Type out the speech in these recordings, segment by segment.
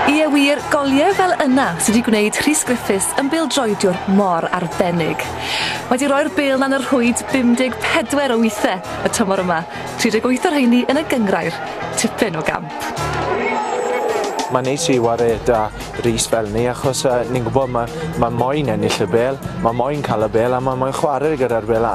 Ie wir, goliau fel yna sy' 'di gwneud Rhys Griffiths yn bêl-droediwr mor arbennig. Mae 'di roi'r bêl 'na yn y rhwyd 54 o withe y tymor yma, 38 o rheiny yn y gynghrair. Tipyn o gamp. Mae'n neis i ware 'da Rhys fel 'ny achos yy ni'n gwbod ma' ma' moyn ennill y bêl, ma' moyn ca'l y bêl a ma' moyn chware gyda'r bêl a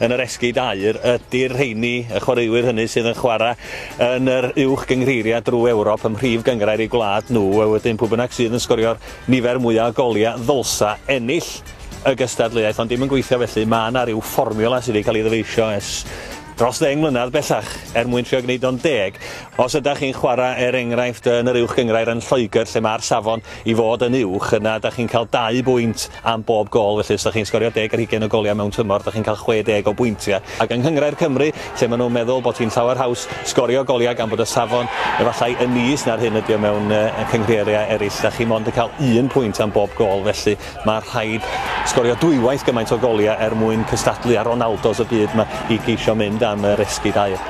yn yr esgid aur ydy'r rheini, y chwaraewyr hynny sydd yn chwarae yn yr uwch gynghreiriau drwy Ewrop ym mhrif gynghrair eu gwlad nhw, a wedyn pwy bynnag sydd yn sgorio'r nifer mwya' o goliau ddylsa ennill y gystadleuaeth, ond 'di hi'm yn gweithio felly, ma' 'na ryw fformiwla sydd 'di cael ei ddyfeisio ers dros ddeng mlynedd bellach er mwyn trio gwneud o'n deg. Os ydach chi'n chwarae er enghraifft yn yr uwch gynghrair yn Lloegr lle ma'r safon i fod yn uwch, yna ydach chi'n cael dau bwynt Am bob gôl felly, os dach chi'n sgorio deg ar hugain o goliau mewn tymor, dach chi'n cael chwe deg o bwyntiau. Ac yng Nghyngrair Cymru, lle maen nhw'n meddwl bod hi'n llawer haws sgorio goliau gan bod y safon efallai yn is na'r hyn ydy o mewn cynghreiriau eraill, dach chi mond yn cael un pwynt am bob gôl felly mae rhaid sgorio dwywaith gymaint o goliau er mwyn cystadlu â'r Ronaldos y byd 'ma i geisio mynd am yr esgid aur.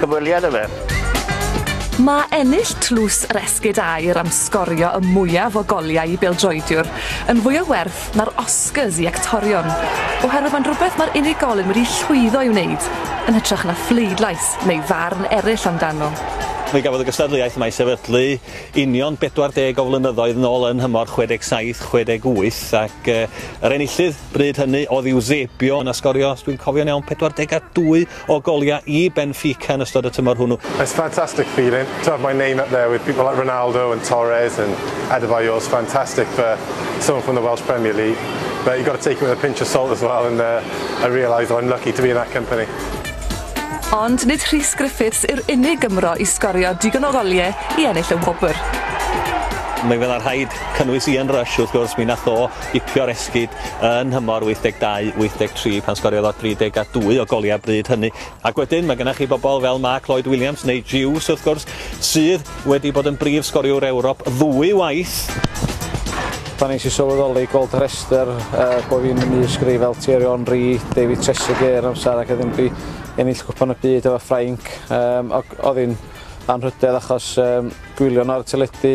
Cyfweliad â fe. Mae ennill Tlws yr Esgid Aur am sgorio y mwyaf o goliau i bêl-droediwr yn fwy o werth na'r Oscars i actorion, oherwydd mae'n rhywbeth mae'r unigolyn wedi llwyddo i wneud, yn hytrach na phleidlais neu farn eraill amdano. Fe gafodd y gystadleuaeth yma ei sefydlu union 40 o flynyddoedd nôl yn nhymor 67, 68 ac yr enillydd bryd hynny oedd Eusebio yn asgorio, os dwi'n cofio'n iawn, 42 o goliau i Benfica yn ystod y tymor hwnnw. It's a fantastic feeling to have my name up there with people like Ronaldo and Torres and Adebayor is fantastic for someone from the Welsh Premier League. But you've got to take it with a pinch of salt as well and uh, I realise I'm lucky to be in that company. Ond nid Rhys Griffiths yw'r unig Gymro i sgorio digon o goliau i ennill y wobr. Mae fel rhaid cynnwys Ian Rush, wrth gwrs, mi nath o ipio'r esgyd yn nhymor 82, 83 pan sgoriodd o 32 o goliau bryd hynny. Ac wedyn mae gennych chi bobl fel Mark Lloyd Williams neu Jews wrth gwrs sydd wedi bod yn brif sgoriwr Ewrop ddwy waith. Pan nes i sylweddoli gweld y rhestr uh, bod fi'n y mis greu fel Thierry Henry, David Trezeguet yn amser ac ydym fi ennill cwpan y byd efo Ffrainc. Um, oedd hi'n anrhydedd achos um, gwylio'n ar y teledu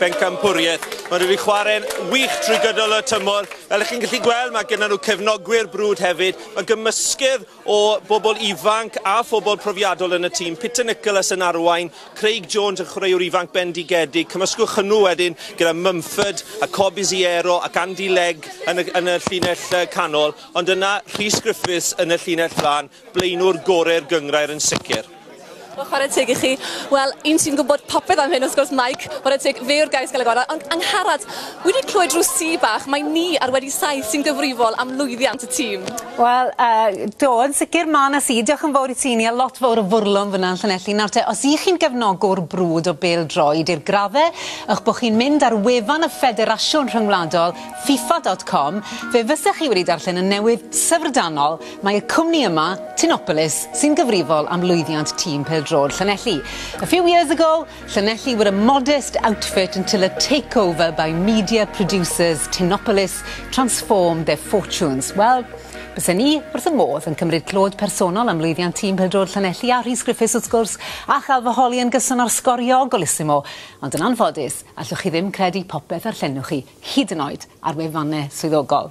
Bencampwriaeth. Maen nhw wedi chwarae'n wych trwy gydol y tymor. Fel ych chi'n gallu gweld, mae gennym nhw cefnogwyr brwd hefyd. Mae gymysgedd o bobl ifanc a phobl profiadol yn y tîm. Peter Nicholas yn arwain, Craig Jones yn chwaraewr ifanc bendigedig. Cymysgwch hwnnw wedyn gyda Mumford a Cobi Ziero ac Andy Legg yn y, yn y llinell canol. Ond yna, Rhys Griffiths yn y llinell flan. Blaenwr gore'r gynghrair yn sicr. Wel, chwarae teg i chi. Wel, un sy'n gwybod popeth am hyn, wrth gwrs, Mike. Chwarae teg, fe yw'r gais gael ei gorau. Ond, Angharad, wedi clywed rhyw si bach, mae ni ar wedi saith sy'n gyfrifol am lwyddiant y tîm. Wel, yy, do, yn sicr, ma' 'na si. Diolch yn fawr i ti, Nia. Lot fawr o fwrlwm fan'na yn Llanelli. Nawr te, os ych chi'n gefnogwr brwd o bêl-droed i'r graddau, ych bod chi'n mynd ar wefan y Ffederasiwn Rhyngwladol, FIFA dot com, fe fysech chi wedi darllen y newydd syfrdanol Mae y cwmni yma, Tinopolis, sy'n gyfrifol am lwyddiant tîm pêl-droed Llanelli. A few years ago, Llanelli were a modest outfit until a takeover by media producers Tinopolis transformed their fortunes. Wel, bysen ni wrth y modd yn cymryd clod personol am lwyddiant tîm pêl-droed Llanelli a Rhys Griffiths wrth gwrs, a chael fy holi yn gyson ar sgorio golissimo, ond yn anffodus, allwch chi ddim credu popeth a llenwch chi, hyd yn oed ar wefannau swyddogol.